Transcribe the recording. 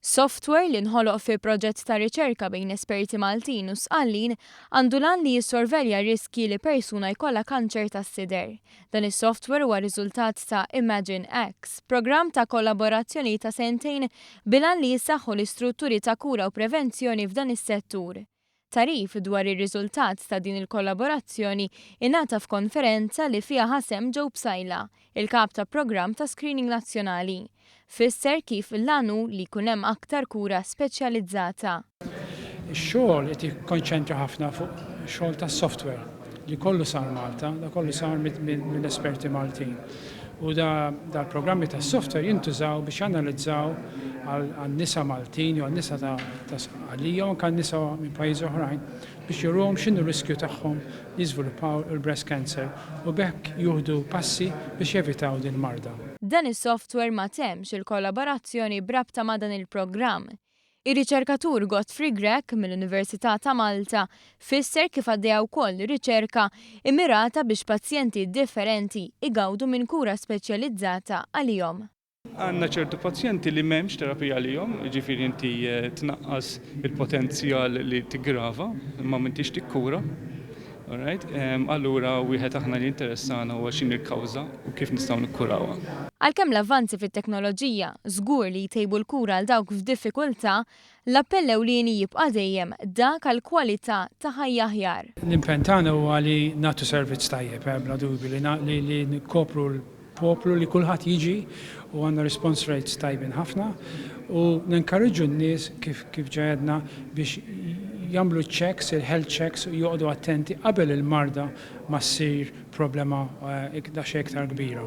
Softwer li nħoloq fi proġett ta' riċerka bejn esperti Maltin u Sqallin għandu l-għan li jissorvelja r-riskji li persuna jkollha kanċer tas-sider. Dan is-softwer huwa riżultat ta' ImagineX, programm ta' kollaborazzjoni ta' sentejn bil-għan li jissaħħu l-istrutturi ta' kura u prevenzjoni f'dan is-settur. Tagħrif dwar ir-riżultat ta' din il-kollaborazzjoni ingħata f'konferenza li fiha ħa sehem Joe Psaila, il-Kap ta' Programm ta' Screening Nazzjonali. Fisser kif l-għan hu li jkun hemm aktar kura speċjalizzata. Ix-xogħol qed jikkonċentra ħafna fuq xogħol tas-software. li kollu sar Malta, da kollu sar minn esperti Maltin. U dal-programmi ta' software jintużaw biex analizzaw għal-nisa Maltin, jew għal-nisa ta' għalija, u kan nisa minn pajiz oħrajn, biex jurum xinu riskju tagħhom li jizvilupaw il-breast cancer, u bekk juhdu passi biex jevitaw din marda. Dan is-software ma temx il-kollaborazzjoni b'rabta ma' dan il-programm, Ir-riċerkatur Godfrey Grech mill-Università ta' Malta fisser kif għaddejja wkoll riċerka immirata biex pazjenti differenti jgawdu minn kura speċjalizzata għalihom. Għandna ċertu pazjenti li m'hemmx terapija għalihom, jiġifieri inti tnaqqas il-potenzjal li tiggrava imma m'intix tikkura. All right, allura wieħed aħna li jinteressana huwa x'inhi l-kawża u kif nistgħu nikkurawha. Għalkemm l-avvanzi fit-teknoloġija żgur li jtejbu l-kura għal dawk f'diffikultà, l-appell ewlieni jibqa' dejjem dak għal kwalità ta' ħajja aħjar. L-impenn tagħna huwa li nagħtu servizz tajjeb, bla dubju, li nikkopru l. Poplu li kulħadd jiġi u għandna response rates tajbin ħafna u nenkarriġġu n-nies kif kif ġa għedna biex jagħmlu ċ-checks, il-health checks u joqogħdu attenti qabel il-marda ma ssir problema daqsxejn iktar kbira.